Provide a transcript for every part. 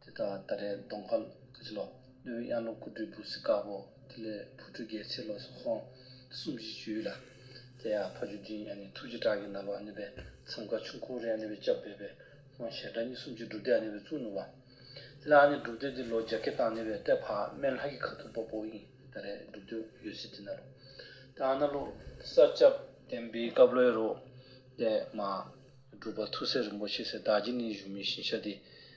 དེ་དག་ད་རེས་གདོང་དཀར་ཀུ་ཅི་ལོ། གནས་བོད་གཡང་ལོ་ཀུ་སྦྲུལ་བུ་སི་དཀར་པོ། དེ་ལས་ཕུར་སྦྲུལ་རྒྱལ་ཚེ་ལོ་སོགས་ཧོང་གསུམ་བཞི་བཅུ་ཡོད་ལ། དེ་ཡང་ཕ་ཆོས་སྦྱིན་ཡང་ནི་ཐུགས་རྗེ་བྲག་གི་ནར་བ་ནོད་པའི་མཚམས་ཀ་ཆུང་ཁུ་རེ་ཡང་ནོད་པའི་སྐྱབས་སྦས་པའི་ཧོང་ཞལ་བྲག་གཉིས་གསུམ་ཅུ་སྒྲུབ་སྡེ་ཡང་ནོད་པའི་གཙུག་ནོར་བ། དེ་ལའང་ནི་སྒྲུབ་སྡེ་འདི་ལོ་རྒྱ་སྐད་དང་ནོད་པའི་ཏའི་ཕག་སྨན་ལྷ་ཁྱི་ཁ་ཐུག་པ་པོ་ཡིན་ད་རེས་སྒྲུབ་འདོད་ཡོད་སྲིད་དེ་ན་ལོ། དེ་ཡང་ན་ལོ། ས་སྐྱ་བསྟན་པའི་བཀའ་བློའི་རོ། ཏའི་མ། སྒྲུབ་པ་ཐུགས་སྲས་རིན་པོ་ཆེ་སེར་བདག་རྗེ་ནི་བཞུགས་མི་ཤིང་ཤ་དེ།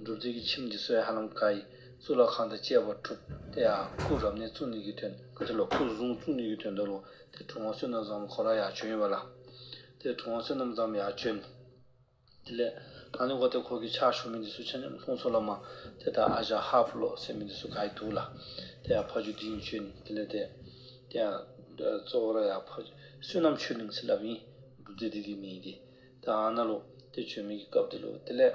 སྒྲུབ་རྫས་ཀྱི་ཁྱིམ་གྱི་སྲོལ་ཧ་ལམ་བཀའ་ཡི་གཙུག་ལག་ཁང་དང་བཅས་པར་གྲུབ་སྟེ་ཡང་སྐུ་རབ་གནས་གཙུག་ནི་གི་དོན་དུ་ལོ། སྐུ་གསུང་གཙུག་ནི་གི་དོན་དུ་ལོ། དེ་གྲུབ་དབང་བསོད་ནམས་བཟང་པོ་གོ་ལ་ཡག་བྱོན་ཡིན་པ་ལ། དེ་གྲུབ་དབང་བསོད་ནམས་བཟང་པོ་ཡག་བྱོན། དེ་ལས། ཐང་ལི་འགོ་དེ་འཁོར་གྱི་ཕྱག་བཞུགས་མི་འདི་སུ་ཆ་ཉམས་ལྷུང་སོ་ལ་མ། དེ་ལྟར་ཨ་ཞང་ཧ་བྷུ་ལོག་སྲས་མི་འདི་སུ་ག་ཡི་འདུག་ལ། དེ་ཡང་ཕ་ཆོས་འདི་ཡིན་བྱོན། དེ་ལས་དེ། དེ་ཡང། གཙོ་བོར་ཡང་ཕ། བསོད་ནམས་ཆོས་གླིང་ཚེ་རླབས་ཡིན། སྒྲུབ་རྫས་འདི་གི་མི་ཡི་དེ། དེ་ཨ་ན་ལོ། དེ་བྱོན་མི་གི་སྐབས་དེ་ལོ། དེ་ལས།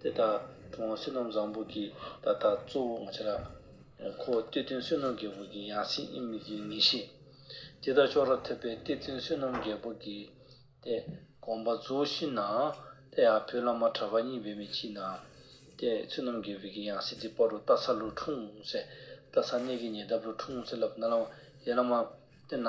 དེ་ལྟར་གྲོང་བ་བསོད་ནམས་བཟང་པོ་གྱིས་ད་ལྟ་གཙོ་བོ་ང་ཆེ་ལ། ཁོ་བོ་གཏེར་སྟོན་བསོད་ནམས་རྒྱལ་པོ་གྱིས་ཡང་སྲིད་ཨེ་མི་གྱིས་ངེས་ཤེས། དེ་ལྟར་ཕྱོགས་ར་ཐོད་པའི་གཏེར་སྟོན་བསོད་ནམས་རྒྱལ་པོ་གྱིས། ཏེ། དགོངས་པ་རྫོགས་ཤིང་ན། དེ་ཡང་བོད་བླ་མ་གྲྭ་པ་གཉིས་བེད་མེད་ཀྱིས་ན། ཏེ། བསོད་ནམས་རྒྱལ་པོ་གྱིས་ཡང་སྲིད་དེ་པར་རུ་རྟ་ཚ་ལུ་འཁྲུངས་སེ། རྟ་ཚ་གནས་ཀྱི་ཉེ་འདབས་རུ་འཁྲུངས་སེ་ལབ་ན། ཡེ་བླ་མ། དེ་ན།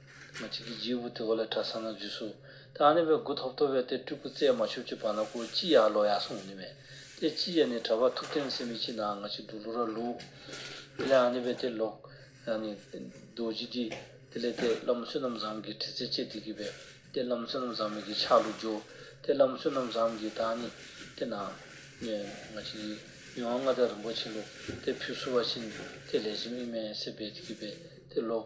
མ་གཅིག་གིས་རྗེའི་དབུ་དེ་འོག་ལས་གྲ་ས་ན་འཇུས་སོ། དེ་ཨ་ནེ་བའི་དགུ་ཐོབ་ཐོབ་བས་དེ་སྤྲུལ་སྐུ་བཙས་མ་ཆུབ་ཀྱི་བར་ན་ཁོ་ཅི་ཡག་ལོ་ཡག་གསུངས་ནི་མེད། དེ་ལྕི་ཡས་ནི་གྲ་པ་ཐུབ་བསྟན་སེ་མི་ལྕི་ནའང་ང་ཅིག་འདུག་ལོ་ར་ལུག། དེ་ལས་ཨ་ནེ་བས་དེ་ལོག། ཡང་ནི། རྡོ་རྗེ་འདི། དེ་ལས་དེ་བླ་མ་བསོད་ནམས་བཟང་གིས་དྲི་ཚེ་ཅད་དེ་གི་བས། དེ་བླ་མ་བསོད་ནམས་བཟང་མི་གིས་ཆག་ལུག་འཇོག། དེ་བླ་མ་བསོད་ནམས་བཟང་གིས་ད་ཨ་ནེ། དེ་ན། ནི། ང་ཅིག་གིས། མི་དབང་མངའ་བདག་རིན་པོ་ཆེ་ལུག། དེ་ཕུད་བསུ་བ་བྱིན། དེ་ལས་བྱིན་དབྱིན་མན་སེ་བས་དེ་གི་བས། དེ་ལོག།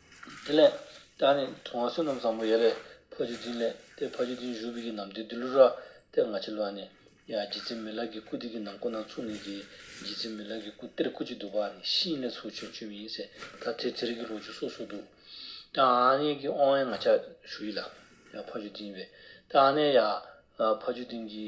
དེ་ལས། ད་ནི་དུང་བ་བསོད་ནམས་བཟང་པོ་ཡེ་ལེ་ཕོ་ཆེ་འཛིན་ལས་ཏེ་ཕ་ཆེ་འཛིན་བཞུགས་པའི་གྱི་ནམ་དེ་དི་ལུ་ར་ཏེ་ང་ཆེ་ལུ་ཨ་ནི་ཡ་རྗེ་བཙུན་མི་ལག་གི་སྐུ་དེ་གི་ནང་སྐུ་ནང་ཚུགས་ནས་ཀྱི་རྗེ་བཙུན་མི་ལག་གི་སྐུ་གཏེར་སྐུ་གཅིག་འདུག་པ་ནི་ཤིང་ལས་ཚུགས་ཆོས་འཆོས་མི་ཡིན་ཟེར་ད་དེ་ཚེ་རིང་གི་ལོ་ཆུ་སོ་སོ་འདུག་ད་ཨ་ནི་ཀྱི་ཨོ་ཨེ་ང་ཆ་བཞུགས་ཡི་ལ་ཡ་ཕ་ཆུ་འཛིན་བས་ད་ཨ་ནི་ཡ་ཕ་ཆུ་འཛིན་གྱི།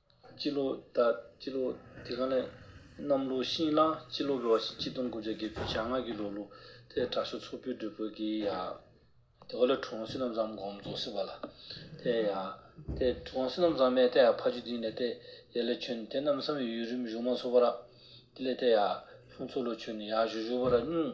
སྤྱི་ལོ་ཟླ་སྤྱི་ལོ་དེ་ག་ནས་གནམ་ལོ་ཤིང་གླང་སྤྱི་ལོ་འགོ་བ་ཤིང་སྤྱི་སྟོང་དགུ་བརྒྱ་བརྒྱད་ཅུ་བྱ་ལྔ་གི་ལོ་ལུགས་ཐད་དྲག་ཤུལ་ཚོགས་ཕུད་སྒྲུབ་དགོས་ཀྱི་ཡ། དེ་ག་ལ་གྲོང་སྲིད་རྣམས་ཙམ་སྒོམ་རྫོགས་སྲིད་པ་ལ། དེ་ཡ། དེ་གྲོང་སྲིད་རྣམས་ཙམ་མས་དེ་ཡ་ཕ་རྒྱུད་དེ་ནས་དེ་ཡ་ལས་བྱོན་དེ་རྣམས་སམ་ཡུལ་རིམ་གཞུང་མ་ཚོགས་པ་ར། དེ་ལས་དེ་ཡ། ལྷུང་ཚོགས་ལོ་ཆོས་ནི་ཡ་བཞུགས་བཞུགས་པ་ར་སྙུང།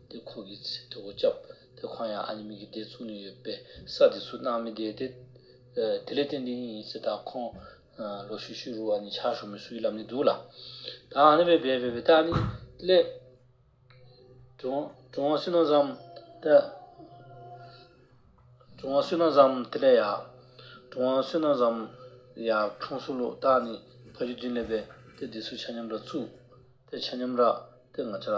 དེ་ཁོ་གིས་ཚིག་དེ་འོ་ཅག་དེ་གང་ཡང་ཨ་ནི་མིག་གིས་བལྟས་ཚུགས་ནས་ཡོད་པས་ས་དེ་སུ་ནའང་མི་བསྡད་དེ། དེ་ལས་ཏན་ཏན་ཡིན་ཡིན་ཟེར་དང་ཁོང། ལོ་ཤུ་ཤུ་རུ་ཨ་ནི་ཆགས་ཞོར་མི་སུ་ཡི་ལབ་ནས་འདུག་ལ། ད་ཨ་ནི་བས་བས་བས་བས་ད་ཨ་ནི་སླེབས། གྲོང་བ་སུས་ན་བཟའམ། ད། གྲོང་བ་སུས་ན་བཟའམ་དེ་ལས་ཡག། གྲོང་བ་སུས་ན་བཟའམ། ཡག་གྲོང་སུ་ལོག་ད་ཨ་ནི་ཕ་རྒྱུད་འཛིན་སླེབས་པས་དེ་དེ་སུ་ཆ་སྙོམས་ར་ཚུགས། དེ་ཆ་སྙོམས་ར། དེ་ང་ཆ་ར།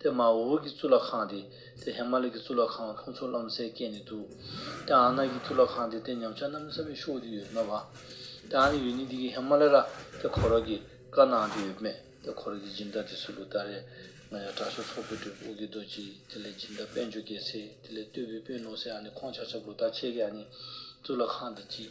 དེ་མ་འོ་འི་གཙུག་ལག་ཁང་སྟེ། དེ་ཧེ་མ་ལི་ཀི་གཙུག་ལག་ཁང་ཁོང་ཚོ་རློམ་སའི་སྐད་ནི་འདུག། དེ་ཨ་ནག་གི་གཙུག་ལག་ཁང་སྟེ་དེ་ཉམས་ཆག་རྣམ་གསར་བའི་ཤོག་དེ་ཡོད་མེད་བ། དེ་ཨ་ནི་ཡོད་ནི་འདི་གི་ཧེ་མ་ལི་ར་དེ་ཁོ་རོག་གི་དཀར་ནའང་དེ་ཡོད་མེད་དེ་ཁོ་རོག་གི་སྦྱིན་བདག་དེ་སུ་ལུ་ད་རེད། ང་ཡང་གྲྭ་ཤོག་ཚོགས་པའི་སྒྲོལ་དབུ་གི་རྡོ་རྗེ་ཡིན་དེ་ལས་སྦྱིན་བདག་དཔལ་འབྱོར་རྒྱལ་སྲས་དེ་ལས་སྟོད་བུའི་དཔོན་ནོར་སྲས་ཨ་ནི་ཁོང་ཆགས་ཆགས་པོ་ད་ཁྱེད་ཀྱི་ཨ་ནི་གཙུག་ལག་ཁང་དེ་གཅིག་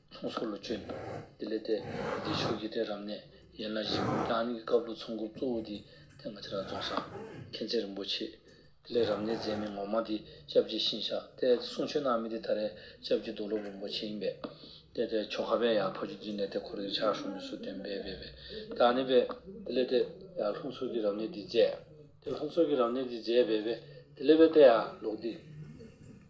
ཚོང་ཟོག་ལ་བཅོལ་འདུག་དེ་ལས་ཐད་འདིའི་ཕྱོགས་ཀྱི་གཏན་རབས་ནས་ཡན་ལག་བཞི་པོའི་རང་རིགས་ཀྱི་བཀའ་བློན་ཚོགས་འཁོར་གཙོ་བོ་དེ་ཐེངས་ང་ཚ་ར་རྫོང་ས་མཁན་ཚེ་རིན་པོ་ཆེ། དེ་ལས་རབ་གནས་མཛད་མི་ངོ་མ་དེ་སྐྱབས་རྗེ་ཤིང་ཤག་ཏའེ་དེ་གསུང་ཆོས་གནང་མི་དེ་ད་རེས་སྐྱབས་རྗེ་རྡོ་ལོབ་རིན་པོ་ཆེ་ཡིན་པས། དེ་ལྟའི་ཆོ་ག་བས་ཡང་ཕ་ཆུ་འཛིན་ནས་དེ་འཁོར་གྱི་ཕྱག་ཤོག་མི་སུ་བསྟན་པས་བས་པས་ད་ནི་བས། དེ་ལས་ཐད་ཡང་ལྷུན་ཚོགས་ཀྱི་རབ་གནས་འདི་མཛད། དེ་ལྷུན་ཚོགས་ཀྱི་རབ་གནས་འདི་མཛད་བས་བས། དེ་ལས་བས་ཐད་ཡང་ལོག་འདི།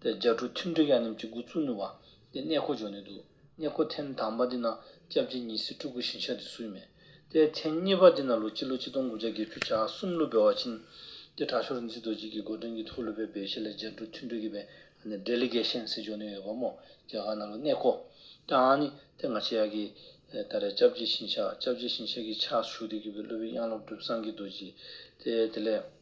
ཏེ་རྒྱ་ཕྲུག་ཐུན་བྲེ་གཡག་རྣམས་ཀྱི་མགོ་བཙུགས་ནུས་པ། ཏེ་གནས་འཁོར་འཇོག་ནུས་འདུག་གནས་འཁོར་ཐེངས་དང་པ་འདི་ན་སྐྱབས་རྗེ་ཉི་ཟེར་སྤྲུལ་སྐུ་བཞིན་ཆགས་འདི་སུ་ཡིན་མེད། ཏེ་ཐེངས་གཉིས་པ་འདི་ན་ལོ་སྤྱི་ལོ་གཅིག་སྟོང་དགུ་བརྒྱ་བརྒྱད་ཅུ་ཆ་གསུམ་ཀླུ་སྦལ་བ་ཆེན། ཏེ་གྲྭ་ཤོག་རིག་འཛིན་རྡོ་རྗེ་ཀྱི་སྒོ་དྲུང་གི་ཐུགས་ལྷོད་པའི་བེ་ཤེ་ལ་རྒྱ་ཕྲུག་ཐུན་བྲེ་གི་བེ་འབྲས་ལི་གེ་ཤན་ཟེར་འཇོག་ནུས་ཡོད་པ་མོ་རྒྱ་གར་ན་ལོ་གནས་འཁོར། ཀྱང་ནི་ཏེ་ང་ཆེ་ཡག་གི། ད་རེས་སྐྱབས་རྗེ་ཞིང་ཆགས་སྐྱབས་རྗེ་ཞིང་ཆགས་ཀྱི་ཕྱག་བཞུགས་འདི་གུས་པའི་བློ་བི་དབྱངས་སློབ་གྲུབ་སངས་ཀྱི་རྡོ་རྗེ། ཏེ་དེ་ལས།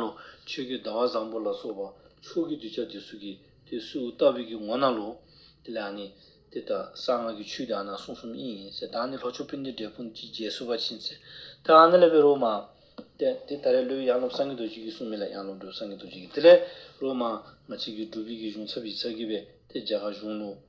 ལོ། ཆོས་རྒྱུད་ཟླ་བ་བཟང་པོ་ལ་སོགས་པ་མཆོག་གི་གདུལ་བྱ་དེ་སུ་གི་དེ་སུའུ་ལྟ་བུས་ཀྱི་ངོ་ན་ལོ། དེ་ལས་ནི། དེ་ལྟར་གསང་སྔགས་ཀྱི་ཆོས་དེ་གསུང་གསུམ་ཡིན། ད་ནི་ལྷོ་ཕྱོགས་སྤུན་ཟླའི་འབྲས་སྤུངས་ཀྱི་རྒྱལ་སྲུ་བ་ཕྱིན། དེ་ལས་པའི་རོ་མ། དེ་ད་རེས་བློའི་གཡང་ལོབས་སངས་རྒྱས་རྡོ་རྗེ་ཀྱི་གསུང་མི་ལ་གཡང་ལོབས་སྒྲོལ་སངས་རྒྱས་རྡོ་རྗེ་ཀྱི་དེ་ལས་རོ་མ། ང་ཕྱིས་ཀྱི་སྒྲུབ་ཡིག་གི་གཞུང་ཚབ་ཡིག་ཚགས་ཀྱི་བས་དེ་རྒྱ་གར་གཞུང་ལུགས།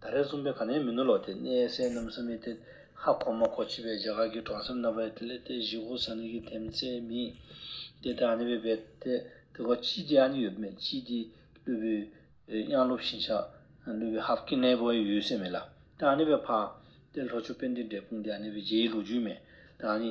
ད་རེས་རྩོམ་པའི་ག་ནའི་མི་ནུ་ལོ་དེ་གནས་སའི་གནམ་ས་མི་སྟེ་ཧ་གོ་མ་གོ་བྱེད་པའི་རྒྱ་གར་གྱི་གྲོང་གསེབ་ནག་པའི་ལྟེ་གནས་ཏེ་ཞི་ཧོ་ས་ནི་གྱི་དེམ་རྩེའི་མི། དེ་དེ་ཨ་ནི་བའི་བེ་ཏེ་དེ་གོ་ཅི་དེ་ཨ་ནི་ཡོད་མེད་ཅི་དེ་ལུས་པོའི་དབྱངས་ལུགས་བཞིན་ཆགས་ལུས་པའི་ཧ་བཀི་གནས་བོ་ཡི་ཡུལ་སའི་མི་ལ་ཏེ་ཨ་ནི་བའི་ཕ། དེ་ལྷོ་ཆུ་བེ་ཏེ་འབྲས་སྤུངས་དེ་ཨ་ནི་བའི་རྗེ་ཡི་ལུགས་རྒྱུད་མི། དེ་ཨ་ནི།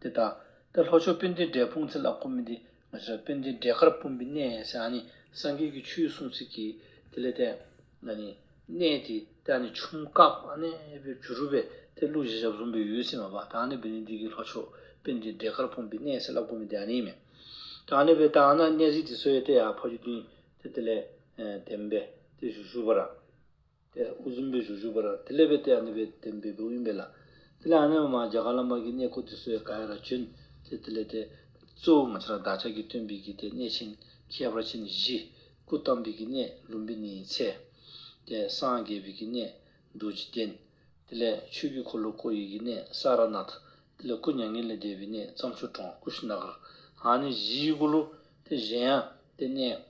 དེ་ལྟ་སྟེ་ལྷོ་ཕྱོགས་དཔལ་ལྡན་འབྲས་སྤུངས་ཚེ་ལ་ཁོ་མི་འདི། ང་ཞེས་པ་དཔལ་ལྡན་འབྲས་དཀར་སྤུངས་པའི་གནས་ཞེས་ཨ་ནི་སངས་རྒྱས་ཀྱི་ཆོས་གསུངས་ཚིག་གིས་དེ་ལས་ཏེ། ཨ་ནི། གནས་དེ་སྟེ་ཨ་ནི་ཆུམ་དཀར་ཨ་ནི་པའི་ཇུ་རུ་བས་དེ་བླུགས་ཞེས་ཞབས་ཟུང་པའི་ཡུལ་སེམས་མ་པ་ཏཱ་ནི་པ་ནི་འདི་གི་ལྷོ་ཕྱོགས་དཔལ་ལྡན་འབྲས་དཀར་སྤུངས་པའི་གནས་ཞེས་ལ་ཁོ་མི་འདི་ཨ་ནི་མེད། ཏཱ་ནི་པའི་ཏཱ་ན་གནས་གཟིགས་དེ་སོའི་ཏེ་ཡ་ཕ་རྒྱུད་བདུན་དེ་དེ་ལས། དེ་མེད་པས་དེ་ཞུ་ཞུ་བར། པས་དབུ་གཟུམ་པའི་གཞུག་གཞུག་པར་དེ་སླད་པའི་སྟེ་ཨ་ནི་པའི་བདེན་པའི་བུ་ཡིན་པས་ལ། དེ་ལས་ཨ་ནི་པ་མ་བྱ་ག་ལ་མ་གིས་གནས་བསྐོར་དུ་སོའི་ག་ཡ་ར་བྱོན་ཏེ་དེ་ལས་ཏེ། གཙོ་བོ་ང་ཅི་ར་བདག་ཅག་གི་སྟོན་པའི་གིས་ཏེ་གནས་ཆེན་ཁྱད་པར་ཅན་བཞི། སྐུ་བལྟམས་པའི་གིས་གནས་ལུམ་བི་ནིའི་ཚལ། ཏེ་སངས་རྒྱས་པའི་གིས་གནས་རྡོ་རྗེ་གདན། དེ་ལས་ཆོས་ཀྱི་འཁོར་ལོ་ཀོ་ཡི་གིས་གནས་ས་ར་ནཱ་ཐ། དེ་ལས་སྐུ་མྱ་ངན་ལས་འདས་པའི་གནས་བརྩམས་ཆོས་གྲོང་ཀུ་ཤི་ནཱ་གར། ཨ་ནི་བཞི་ཡི་གུ་རུ་ཏེ་གཞན་ཡང་ཏེ་གནས།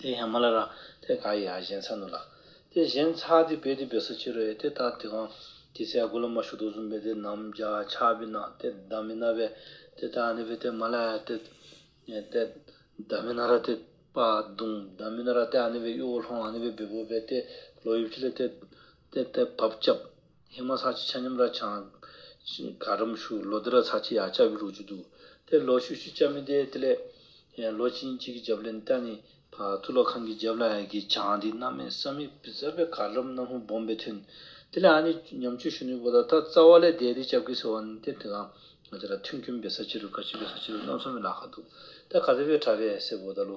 དེ་ཡང་མ་ལ་ར། དེ་ག་ཡི་ཨ་གཞན་ཚ་ནུ་ལ། དེ་གཞན་ཚ་དེ་བེ་དེ་བེ་སོ་ཕྱི་རོལ་དེ་དག་དེ་གང། དེ་ཚའི་དགུ་ལ་མ་ཞུགས་དུག་གསུམ་བེ་དེ་ནམ་བརྒྱ་ཆ་བེ་ན་དེ་བདག་མེད་ན་བེ། དེ་དག་ནི་བེ་དེ་མ་ལ་ཡ་དེ། དེ་བདག་མེད་ན་ར་དེ་པ་དུང་བདག་མེད་ན་ར་དེ་ཨ་ནི་བེ་གཡོ་བོ་ལྷོང་ཨ་ནི་བེ་བེ་བོ་བེ་དེ་ལོ་ཡུབ་ཕྱི་ལ་དེ། དེ་དེ་བབ་ཅབ། སྙིགས་མ་ཚགས་ཀྱི་ཆ་སྙོམས་ར་ཆང། ག་རམ་ཤུ། ལོ་དེ་ར་ཚགས་ཀྱི་ཡག་ཅག་གི་རུ་ཅུ་འདུག། དེར་ལོ་ཤུ་ཤུ་ཅག་མི་བསྡད་དེ་ལས། ལོ་གཅིག་ཡིན་གཅིག་གི་རྒྱབ་ལས་ནས་ལྟ་ནི། གཙུག་ལག་ཁང་གི་རྒྱབ་ལ་ཡ་གི་ཆང་དེ་སྣ་མའི་ས་མིག་བི་ཟར་པའི་ག་རམ་སྣམ་ཧུ་སྦོམ་པའི་ཐུན། དེ་ལས་ཨ་ནི་ཉམས་ཆུ་ཤུ་ནུས་པོ་དང་ད་རྩ་བ་ལས་བསྡད་དེ་ཅབ་ཀི་ཟེར་བ་ནི་དེར་དེ་གང། ང་ཅ་ར་ཐུན་སྐྱོན་བི་ཟར་ཕྱི་རུ་ག་ཕྱི་བི་ཟར་ཕྱི་རུ་སྣམ་ས་མི་ལ་ཁ་འདུག། ད་ག་ཟེར་བའི་གྲ་བས་སེར་བོ་ད་ལོ།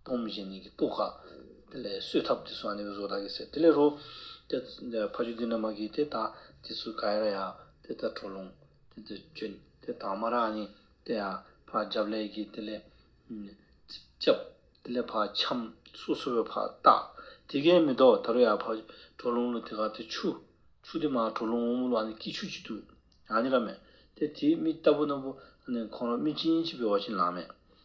སྟོང་མི་བྱེད་ནི་གི་སྤུ་ཁ། དེ་ལས་གསོས་ཐབས་དེ་སུ་ཨ་ནི་གི་བཟོ་ད་གི་ཟེར་དེ་ལས་རོ། དེ་ཕ་ཆུ་དེ་ན་མ་གི་དེ་ད་དེ་སུ་ག་ཡ་ར་ཡ། དེ་ད་གྲོ་ལུང། དེ་ད་ཅོན། དེ་དང་མ་ར་ཨ་ནི་དེ་ཡ། ཕ་རྒྱབ་ལས་གི་དེ་ལས། ལྕབ། དེ་ལས་ཕ་ཆམ། སུ་སུ་བའི་ཕ་རྟ། དེ་གའི་མི་ཏོག་ད་རོ་ཡ་ཕ། གྲོ་ལུང་ལོ་དེ་ག་དེ་ཆུ། ཆུ་དེ་མ་གྲོ་ལུང་འོ་མོ་ལོ་ཨ་ནི་ཀི་ཆུ་ཅི་དུ། ཨ་ནི་ར་མེད། དེ་དེ་མི་རྟ་བུ་ན་བུ། ཨ་ནི་ཁོང་ར་མི་ཅིན་ཅི་བེ་བ་ཅིན་ལ་མེད།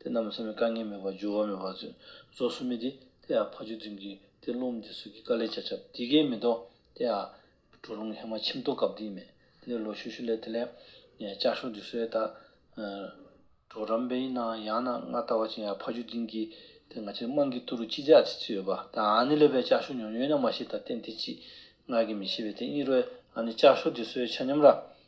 དེ་རྣམས་ལ་སེམས་ཀྱི་དཀའ་ངལ་མེད་པར་འགྱུར་བ་མེད་པར་མཛོད། རྫོགས་སུ་མི་བདེ། དེ་ཡང་ཕ་ཆོས་འཛིན་གྱི་དེ་རླུང་འདི་སོགས་ཀྱི་དཀའ་ལས་བྱ་ཁྱབ་དེ་ཀའི་མི་ལྡོག། དེ་ཡང། གྲོ་ལུང་ཧེ་མ་ཁྱིམ་ཐོག་སྐབས་འདིའི་མེད། དེ་ལས་ལོ་ཤུ་ཤུ་ལས་དེ་ལས། ལྕགས་ཤོག་འདི་སོའི་བདག། གྲོགས་རམ་དཔལ་ཡིན་ནའང་ཡང་ན་ང་ལྟ་བ་ཅན་ཡང་ཕ་ཆོས་འཛིན་གྱི། དེ་ང་ཅིར་དམངས་ཀྱི་ཐུགས་རུ་ཅི་བྱ་ཅི་ཚུལ་ཡོད་པ། ད་ཨ་ནི་ལས་པའི་ལྕགས་ཤོག་ཉོ་ཉོ་ཡིན་ན་མ་ཤེས་ད་རྟེན་དེ་ཅི། ངག་གིས་མི་ཤེས་པའི་དེ་གཉིས་རོལ། ཨ་ནི་ལྕགས་ཤོག་འདི་སོའི་ཆ་སྙོམས་ར།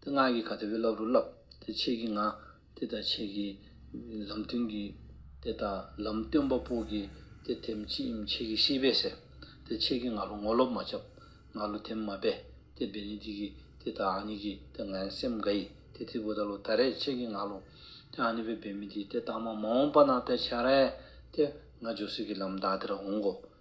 དེ་སྔར་གྱི་ག་ཚོད་བུ་སློབ་རུ་སློབ། དེ་ཕྱེད་ཀྱི་ང། དེ་དང་ཕྱེད་ཀྱི། ལམ་སྟོན་གྱི། དེ་དང་ལམ་སྟོན་པ་པོ་གྱི། དེ་དེམ་ཕྱེད་ཡིམ་ཕྱེད་ཀྱི་ཤེས་པས་ཟེར། དེ་ཕྱེད་ཀྱི་ང་རུ་ངོ་སློབ་མ་ཁྱབ། ང་རུ་དེམ་མ་སྦས། དེ་སྦས་ནི་དེ་གྱི། དེ་དང་ཨ་ནི་གྱི། དེ་ངན་སེམས་འགའ་ཡི། དེ་ཐིག་བུ་ད་ལུ་ད་རེས་ཕྱེད་ཀྱི་ང་ལུ། དེ་ཨ་ནི་བའི་སྦས་མི་དེ་དེ་དག་མ་མ་འོངས་པ་ན་དེ་བྱ་རེ། དེ། ང་ཇོ་སི་གྱི་ལམ་དག་དེར་འོང་གོ།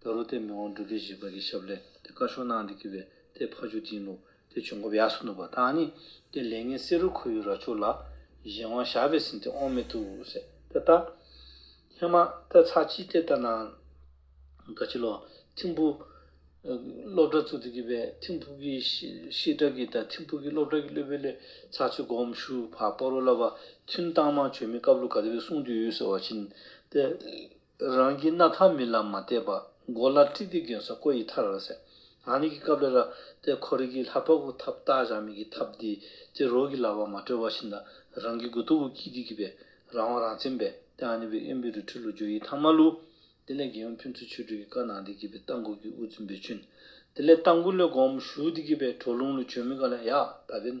ད་རུ་དེ་མི་དབང་སྒྲུབ་རྒྱུ་ཞེས་པ་གྱི་ཞབས་ལས་དེ་བཀའ་ཤོག་གནང་འདི་གི་བས་དེ་ཕ་ཆུ་འཛིན་ལུགས་དེ་བྱུང་སྐབས་ཡགས་སུ་འདུག་པ་དང་ནི་དེ་ལས་ངས་བསེ་རུ་ཁོ་ཡུ་ར་ཆུ་ལགས་གཞན་དབང་ཞགས་པས་ཟིན་དེ་ཨོང་མེད་ཐུག་ཟེར་དེ་ལྟ། ཧེ་མ་ཏའི་ཚགས་ཅི་སྟེ་ལྟ་ན། དགའ་ཆེ་ལོ། ཐིམ་ཕུ། སློབ་གྲྭ་ཚུགས་འདི་གི་བས་ཐིམ་ཕུ་གི་ཤེས་གྲགས་ཀྱི་དང་ཐིམ་ཕུ་གི་སློབ་གྲྭ་གི་སློབ་དཔོན་ལས་ཚགས་ཆུ་སྒོམ་ཞུ་བ་པོ་རོ་ལ་བ་ཐུན་བཏང་མང་བྱོས་མི་སྐབས་ལུགས་ག་དེ་བས་གསུངས་རྒྱུ་ཡོད་ཟེར་བ་བྱིན་ཏེ། རང་གི་སྣ་ཐང་མི་ལ་མ་བལྟས་པར་མགོ་ལ་དཀྲིས་ཏེ་གྱོན་ས་བཀོད་ཡི་ཐར་ར་ཟེར། ང་ནི་གི་སྐབས་ལ་ར་ཏའི་ཁོར་ཡིག་གི་ལྷ་ཕག་གུ་ཐབ་བཏགས་བཞག་མི་གི་ཐབ་དེ་ཏེ་རོ་གི་ལ་བ་མ་གྲོལ་བ་བཞིན་ད་རང་གི་གུ་དོ་གུ་ཀི་དེ་གི་བས་རང་དབང་རང་བཙན་བས་ཏེ་ཨ་ནི་བའི་ཨེམ་བི་རུ་ཁྲི་ལུ་ཇོ་ཡི་ཐང་མ་ལུ། དེ་ལས་རྒྱལ་ཡོངས་ཕུན་ཚོགས་ཆོས་སྒྲོས་ཀྱི་བཀའ་གནང་དེ་གི་བས་རྟ་འགུ་གི་དབུ་བཙུན་བེ་ཆུན། དེ་ལས་རྟ་འགུ་ལས་སྒོམ་ཞུ་དེ་གི་བས་གྲོ་ལུང་ལུ་ཆོས་མི་ག་ལ་ཡག་ད་བས་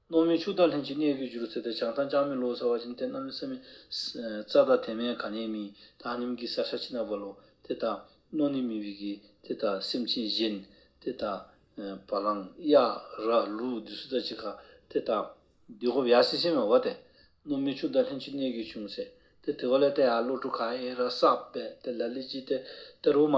སློབ་མའི་ཕྱུག་བདག་ལྷན་ཅིག་གནས་ཀྱིས་བཞུར་ཚེ་དེ་བྱང་ཐང་ཅང་མི་ལོ་ཟེར་བ་བཞིན་དེ་རྣམས་ནི་སེམས་མེད། རྩྭ་དང་དེ་མེད་ག་ནས་མིན། ཐང་ནིམ་གྱི་སར་ཤ་ཆི་ནག་བལ་ལོ། དེ་དང། རྣོ་ནི་མི་བི་གི། དེ་དང། སེམས་ཅན་གཞན། དེ་དང། བ་ལང། གཡག། ར། ལུ། བདུད་སུ་ཙ་ཅི་ག། དེ་དང། བདུད་ཧོབ་ཡ་སི་སེ་མེ་བ་དེ། སློབ་མའི་ཕྱུག་བདག་ལྷན་ཅིག་གནས་ཀྱིས་བྱུང་ཚེ། དེ་དེ་བ་ལས་ཏེ་ཨ་བློ་གྲུ་ག་ཨེ་ར་སག་པད་དེ་ལ་ལི་ཅི་དེ། དེ་རུ་མ།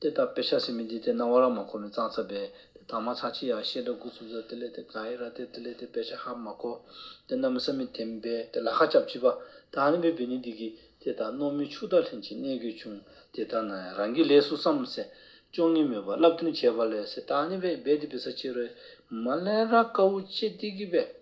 དེ་ལྟར་དཔེ་ཆ་སེ་མི་འདི་དེ་སྣང་བ་རང་མ་གོ་མི་གཙང་ཚ་བས་དེ་དག་མ་ཚང་ཅི་ཡང་ཤེས་འདྲ་གུ་ཚུབ་ཚ་དེ་ལས་དེ་ག་ཡི་ར་དེ་དེ་ལས་དེ་དཔེ་ཆ་ཧ་མ་གོ། དེ་རྣམས་བསམ་མི་དེ་མི་འབད་དེ་ལ་ཁ་སྐྱབས་ཅི་བ། ད་ཧ་ལིན་པའི་བི་ནི་འདི་གི་དེ་དག་རྣོ་མི་ཕྱུགས་དག་ལྷན་ཅིག་གནས་དགོས་བྱུང་དེ་ལྟར་ན་ཡང་རང་གི་ལས་སུ་བསམ་སེ། ཅོང་ངེ་མོས་པ་བསླབ་སྟོན་བྱས་པ་ལས་སེ་ད་ཧ་ལིན་པའི་བེ་དེ་བི་ས་ཆེ་རོའི་མ་ལན་ར་དཀའ་བོ་ཅེས་སྟེ་གི་བས།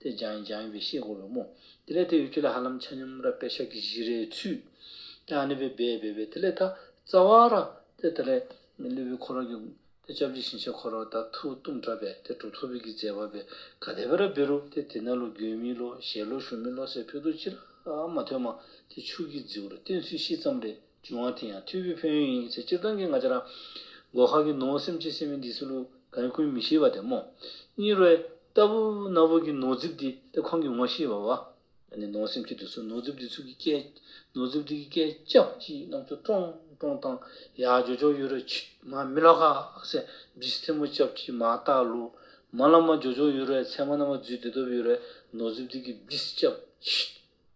དེ་སྦྱང་ཡིན་སྦྱང་ཡིན་པའི་ཤེས་དགོས་པའི་རྨོངས། དེ་ལས་དེ་ཡོད་ཁྱོད་ལ་ཧ་ལམ་ཆ་སྙོམས་ར་པའི་ཤག་གི་བཞི་རེའི་ཚུལ། ཀྱང་ནི་བས་འབད་འབད་པའི་དེ་ལས་ཐ། རྩ་བ་ར། དེ་དེ་ལས། ལུས་པའི་འཁོར་ར་གྱུར། དེ་སྐྱབས་རྗེ་ཞིང་བཤགས་འཁོར་ར་དག་ཐུགས་གཏུམ་དྲག་པས་དེ་གྲོགས་ཐུགས་ཕིགས་ཀྱིས་མཛད་པ་བས་ག་དད་པའི་ར་བས་རུ་དེ་དེ་ན་ལོ་རྒྱུས་མི་ལོ་ཞལ་ལོ་ཞུ་མི་ལོ་སའི་ཕུགས་རྡོ་ཅི་ར་མ་ཐོས་མ་དེ་ཕྱུགས་ཀྱི་རྫིའུ་ར་བསྟན་ཚུལ་ཤེས་ཙམ་རེ། བྱུང་བ་དེ་ཡང་ཐུ་བྷོད་ཕན་ཡོན་ཡིན་ཚེ་སྤྱིར་བཏང་གི་ང་ཅག་རང། འགོག་ཁ་གི་ནོར་སེམས་ཀྱིས་སེམས་མེད་འདི་སུ་ལུ་གང་ཀུན་མི་ཤེས་པ་དེ་མོ། གཉིས་རོའི། རྟ་བུ། གནའ་བོ་གི་ནོར་རྫིབ་འདི་སྟེ་ཁོང་གིས་ངོ་ཤེས་པ་བ། ནི་ནོར་སེམས་ཀྱིས་དུ་སུ་ནོར་རྫིབ་འདི་ཚུགས་ཀྱི་སྐད། ནོར་རྫིབ་འདི་གི་སྐད་ཅག་གིས་རྣམས་ཚུར་ཀྲོང་ཀྲོང་བཏང། ཡ་ཇོ་ཇོ་ཡོད་རེད་ཆུ། མ་མི་ལ་ཁ་སེ། བིས་ཐེ་མོ་ཅབ་ཀྱིས་མ་བཏགས་ལུ། མ་ལ་མ་ཇོ་ཇོ་ཡོད་རེད་ཚད་མ་རྣམས་མ་བརྫུས་བདེ་སྟོབས་ཡོད་རེད་ནོར་རྫིབ་འདི་གི་བིས་ཅབ་ཆུ།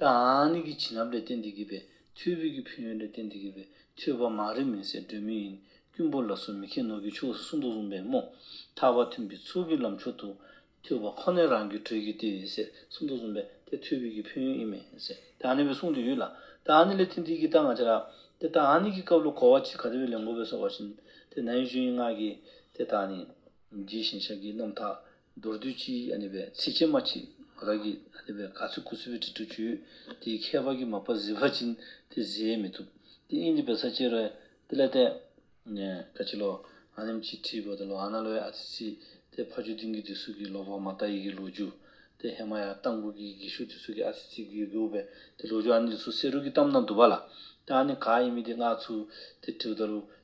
ཏཱ་ནི་གི་བྱིན་རླབས་ལས་བསྟན་འདི་གི་པའི་མཐུས་བོད་ཀྱི་ཕན་ཡོན་ལས་བསྟན་འདི་གི་པའི་མཐུས་བ་མང་རིག་མིན་སའི་སྒྲོན་མེ་ཡིན་ཀུན་པོ་ལ་སོ་མི་ཁེ་ནོར་གྱི་ཕྱོགས་སུ་སུ་འདུག་གསུངས་པས་རྨོངས་ཐག་པ་ཐུན་གྱི་ཚུལ་གྱི་ལམ་མཆོག་ཏུ། མཐུས་བ་ཁོ་ནའི་རང་གི་དྲོད་ཀྱི་ལྟེ་བའི་སའི་སུ་འདུག་གསུངས་པས་དེ་མཐུས་བོད་ཀྱི་ཕན་ཡོན་ཨི་མིན་སའི་ཏཱ་ནི་བའི་གསུང་དུ་ཡོད་ལ། ཏཱ་ནི་ལས་བསྟན་འདི་གི་རྟགས་ང་ཅི་རག། དེ་ཏཱ་ནི་གི་སྐབས་ལོ་གོ་བ་གཅིག་ག་དེ་བས་ལས་འགོ་བས་སོགས་པ་བཞིན། དེ་ན་ཡུལ་ཆོས་དབྱིངས་སྔགས་ཀྱི་དེ་ད་ནི། ཇི་བཞིན་ཤཱཀྱའི་རྣམ་དག་མདོར་བསྡུས་ཀྱིས་ནི་བའི་ཚིགས་བཅད་མ་གཅིག་རག་གིས་ནི་བའི་ག་ཚོད་ཀུ་ཚོད་པའི་དྲི་བྲོ་བརྗོད། དེའི་ཁྱད་པར་གྱི་མ་པ་བཟི་བ་ཅན་དེ་བཟི་ཡས་མི་ཐུབ། དེ་ཨིན་དི་བའི་ས་བཅད་རོའི་ཏི་ལའི་ཏའི། ཀ་ཅི་ལོ། ཨ་ནེམ་ཅིའི་ཏྲིའི་བོ་ཏི་ལོ་ཨ་ན་ལོའི་ཨ་ཙི་ཙི། དེ་ཕ་ཆོས་སྡིངས་ཀྱི་དུས་སུག་གི་ལོ་བོ་མ་ཏཱ་ཡིག་གི་ལོ་རྒྱུ། དེ་ཧེ་མ་ཡ་ཏང་བུ་གི་གི་ཤུག་དུས་སུག་གི་ཨ་ཙི་ཙི་གི་གི་ཨུ་བའི་དེ་ལོ་རྒྱུ་ཨ་ནི་ལི་སུ་སེ་རུ་གི་གཏམ་རྣམས་དུ་བ་ལ། དེ་ཨ་ནི་ག་ཡིན་མིན་དེ་སྔགས་ཚུལ་དེ་དྲི་བ་ལྟ་ལུགས